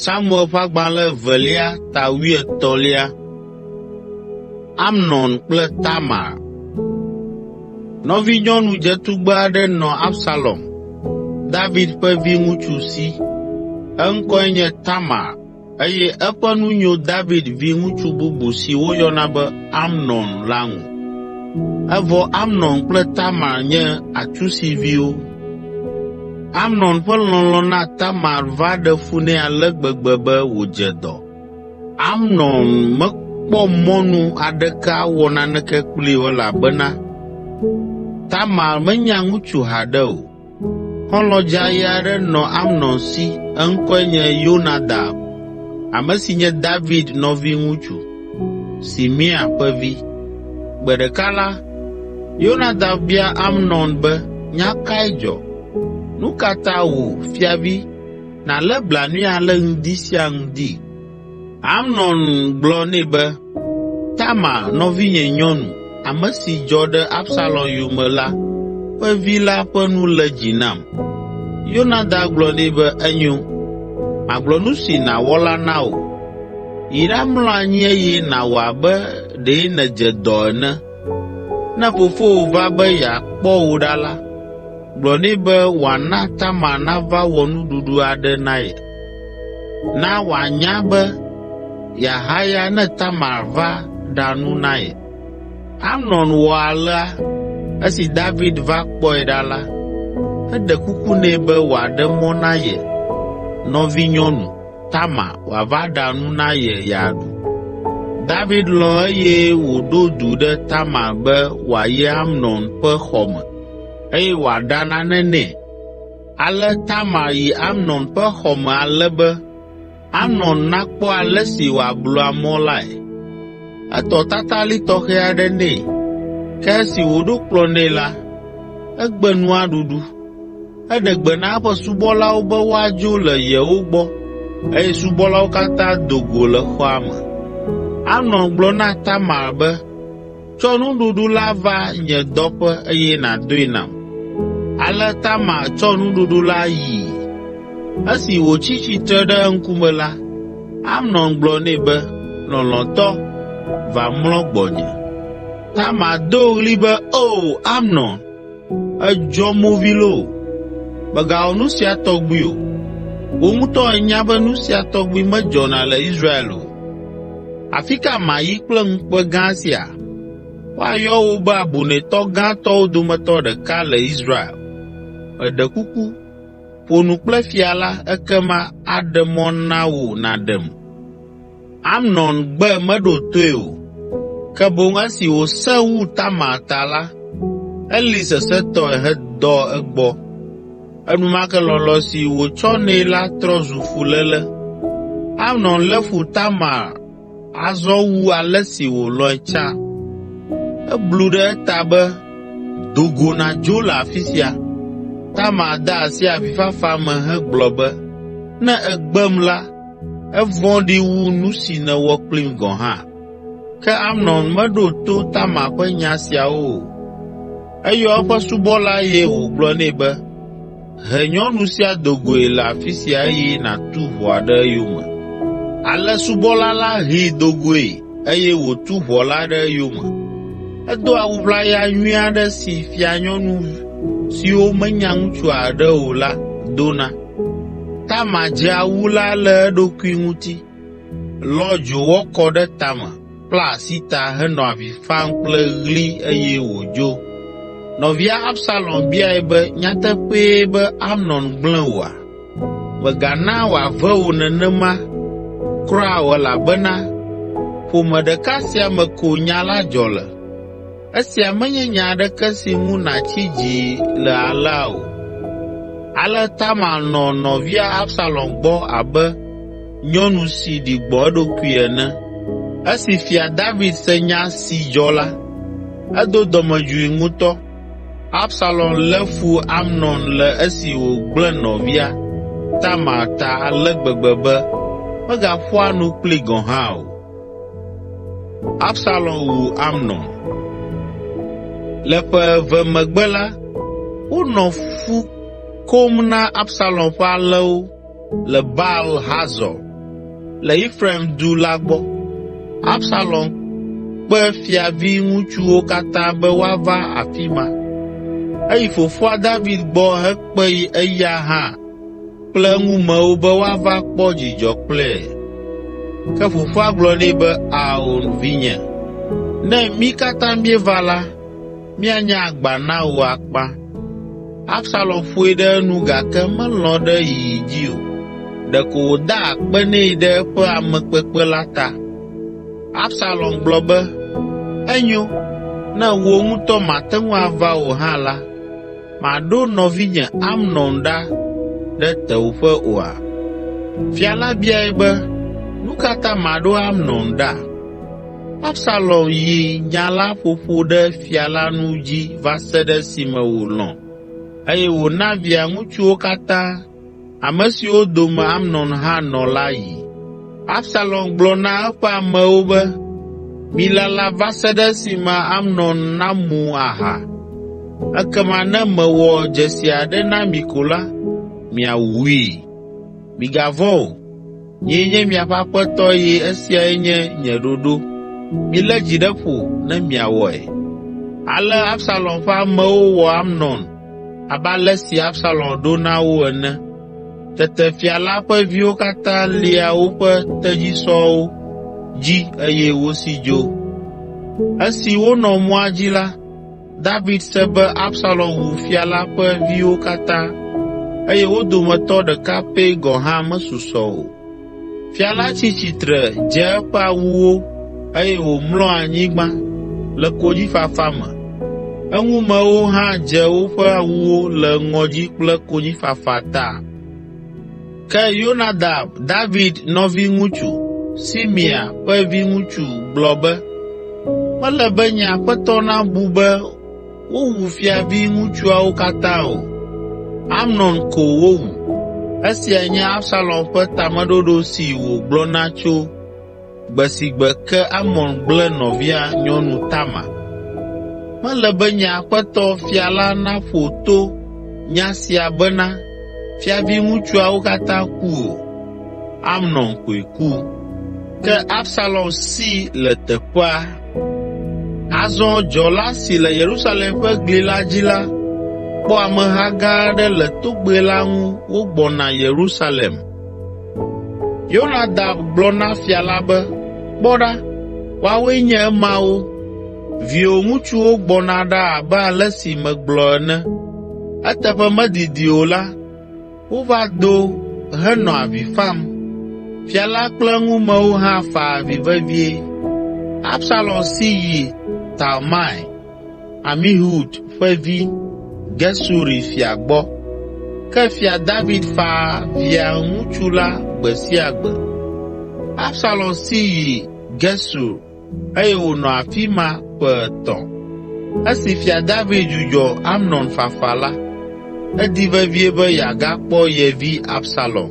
Samuel ƒe agbalẽ evelia ta wuietɔ̃lia. Amnon kple Tamar. Nɔvinyɔnu dzetugbe aɖe nɔ Absalom, David ƒe viŋutsu si. Eŋkɔe nye Tamar Eye eƒe nu nyo David viŋutsu bubu si woyɔna be Amnon la ŋu. Evɔ Amnon kple Tamar nye atsusiviwo. Amnon ƒe lɔlɔ̃ na Tamar va ɖe fu nɛ ale gbegbe be wòdze dɔ. Amnon mekpɔ mɔnu aɖeke awɔ naneke kplii o elabena Tamar menya ŋutsu haɖe o. Xɔlɔ̃ dzãe aɖe nɔ Amnon si, eŋkɔe nye Yonadab, ame si nye David nɔviŋutsu, Simea ƒe vi. Gbe ɖeka la, Yonadab bia Amnon be, “Nya kae dzɔ? Nu ka ta wò, fiavi, nàlé blanui ale ŋdi sia ŋdi? Amnon gblɔ nɛ be, “Tamar, nɔvinye nyɔnu, ame si dzɔ ɖe Absalom yome la ƒe vi la ƒe nu lé dzi nam.” Yonadab gblɔ nɛ be, “Enyo, magblɔ nu si nàwɔ la na wò. Yi ɖamlɔ anyi eye nàwɔ abe ɖe nèdze dɔ ene. Ne fofowò va be yeakpɔ wò ɖa la, gblɔ nɛ be wòana Tamar nava wɔ nuɖuɖu aɖe na ye.” Na wòanya be yeahaya ne Tamar va ɖa nu na ye.” Amnon wɔ alea. Esi David va kpɔe ɖa la, eɖe kuku nɛ be wòaɖe mɔ na ye nɔvinyɔnu, Tamar, wòava ɖa nu na ye yeaɖu. David lɔ̃ eye wòɖo du ɖe Tamar be wòayi Amnon ƒe xɔ me, eye wòaɖa nane nɛ. Ale Tamar yi Amnon ƒe xɔ me ale be Amnon nakpɔ ale si wòablua mɔ lae. Etɔ tatalĩ tɔxɛ aɖe nɛ, ke esi wòɖo kplɔ̃ nɛ la, egbe nua ɖuɖu. Eɖe gbe na eƒe subɔlawo be woadzo le yewo gbɔ eye subɔlawo katã do go le xɔa me. Amnon gblɔ na Tamar be, Tsɔ nuɖuɖu la va nye dɔƒe eye nàdoe nam.” Ale Tamar tsɔ nuɖuɖu la yi. Esi wòtsi tsitre ɖe eŋkume la, Amnon gblɔ nɛ be, “Lɔlɔ̃tɔ, va mlɔ gbɔnye.” Tamar do ɣli be, “Oo, Amnon!” Èdzɔ movi loo! Mègawɔ nu sia tɔgbi o! Wò ŋutɔ ènya be nu sia tɔgbi medzɔna le Israel o. Afi ka mayi kple ŋukpe gã sia? Woayɔ wò be abunɛtɔ gãtɔwo dometɔ ɖeka le Israel. Meɖe kuku, ƒo nu kple fia la ekema aɖe mɔ na wò nàɖem!” Amnon gbe meɖo toe o, ke boŋ esi wòsẽ wu Tamar ta la, eli sesẽtɔe hedɔ egbɔ. Enumake lɔlɔ̃ si wòtsɔ nɛ la trɔ zu fuléle. Amnon lé fu Tamar azɔ wu ale si wòlɔ̃e tsã. Eblu ɖe eta be, “Do go nàdzo le afi sia!” Tamar de asi avifafa me hegblɔ be, “Ne ègbem la, Evɔ̃ɖi wu nu si nèwɔ kplim gɔ̃ hã.” Ke Amnon meɖo to Tamar ƒe nya siawo o. Eyɔ eƒe subɔla eye wògblɔ nɛ be, “He nyɔnu sia do goe le afi sia eye nàtu ʋɔa ɖe eyome.” Ale subɔla la hee do goe eye wòtu ʋɔ la ɖe eyome. Edo awu ʋlaya nyui aɖe si fianyɔnu siwo menya ŋutsua haɖe o la dona. Tamar dze awu la le eɖokui ŋuti, lɔ dzowɔ kɔ ɖe tame, kpla asi ta henɔ avi fam kple ɣli eye wòdzo. Nɔvia Absalom biae be, “Nyateƒee be Amnon gblẽ wòa? Mègana wòave wò nenema kura o elabena ƒome ɖeka sia me ko nya la dzɔ le. Esia menye nya aɖeke si ŋu nàtsi dzi le alea o.” Ale Tamar nɔ nɔvia Absalom gbɔ abe nyɔnu si ɖi gbɔ̃ eɖokui ene. Esi Fia David se nya si dzɔ la, edo dɔmedzoe ŋutɔ. Absalom lé fu Amnon le esi wògblẽ nɔvia, Tamar, ta ale gbegbe be megaƒoa nu kplii gɔ̃ hã o. Absalom wu Amnon. Le ƒe eve megbe la, wonɔ fu kom na Absalom ƒe alẽwo le Baal Hazor le Efraim du la gbɔ. Absalom kpe fiavi ŋutsuwo katã be woava afi ma. Eyi fofoa David gbɔ hekpee eya hã. kple eŋumewo be woava kpɔ dzidzɔ kple ye. Ke fofoa gblɔ nɛ be, “Ao, vinye, ne mí katã míeva la, míanye agba na wò akpa.” Absalom ƒoe ɖe enu gake melɔ̃ ɖe yiyi dzi o; ɖeko wòda akpe nɛ ɖe eƒe amekpekpe la ta. Absalom gblɔ be, “Enyo, ne wò ŋutɔ màte ŋu ava o hã la, Màɖo nɔvinye Amnon ɖa ɖe tewòƒe oa?” Fia la biae be, “Nu ka ta maɖo Amnon ɖa?” Absalom yi nya la ƒoƒo ɖe fia la nu dzi va se ɖe esime wòlɔ̃ eye wòna via ŋutsuwo katã ame siwo dome Amnon hã nɔ la yi. Absalom gblɔ na eƒe amewo be, “Milala va se ɖe esime Amnon namu aha, ekema ne mewɔ dzesi aɖe na mi ko la, miawui. Migavɔ̃ o.” Nyee nye miaƒe aƒetɔ eye esiae nye nye ɖoɖo. Milé dzi ɖe ƒo ne miawɔe.” Ale Absalom ƒe amewo wɔ Amnon abe ale si Absalom ɖo na wo ene. Tete fia la ƒe viwo katã lia woƒe tedzisɔwo dzi eye wosi dzo. Esi wonɔ mɔa dzi la, David se be Absalom wu fia la ƒe viwo katã eye wo dometɔ ɖeka pɛ gɔ̃ hã mesusɔ o. Fia la tsi tsitre dze eƒe awuwo eye wòmlɔ anyigba le konyifafa me. Eŋumewo hã dze woƒe awuwo le ŋɔdzi kple konyifafa ta. Ke Yonadab, David nɔviŋutsu, Simea ƒe viŋutsu gblɔ be, “Mele be nye aƒetɔ nabu be wowu fiaviŋutsuawo katã o. Amnon ko wowu. Esiae nye Absalom ƒe tameɖoɖo si wògblɔna tso Gbe si gbe ke Amnon gblẽ nɔvia nyɔnu Tamar. Mele be nye aƒetɔ, fia la naƒo to nya sia bena fiaviŋutsuawo katã ku o. Amnon koe ku. Ke Absalom si le teƒea. Azɔ dzɔla si le Yerusalem ƒe gli la dzi la kpɔ ameha gã aɖe le togbɛ la ŋu wogbɔna Yerusalem. Yonadab gblɔ na fia la be, “Kpɔ ɖa, woawoe nye emawo. Viwò ŋutsuwo gbɔna ɖa abe ale si megblɔ ene.” Eteƒe medidi o la, wova do henɔ avi fam. Fia la kple eŋumewo hã fa avi vevie. Absalom si yi Talmai. Amihud ƒe vi, Gesuri fia gbɔ. Ke Fia David faa via ŋutsu la gbe sia gbe. Absalom si yi Gesur eye wònɔ afi ma ƒe etɔ̃. Esi Fia David dzudzɔ Amnon fafa la, edi vevie be yeagakpɔ ye vi Absalom.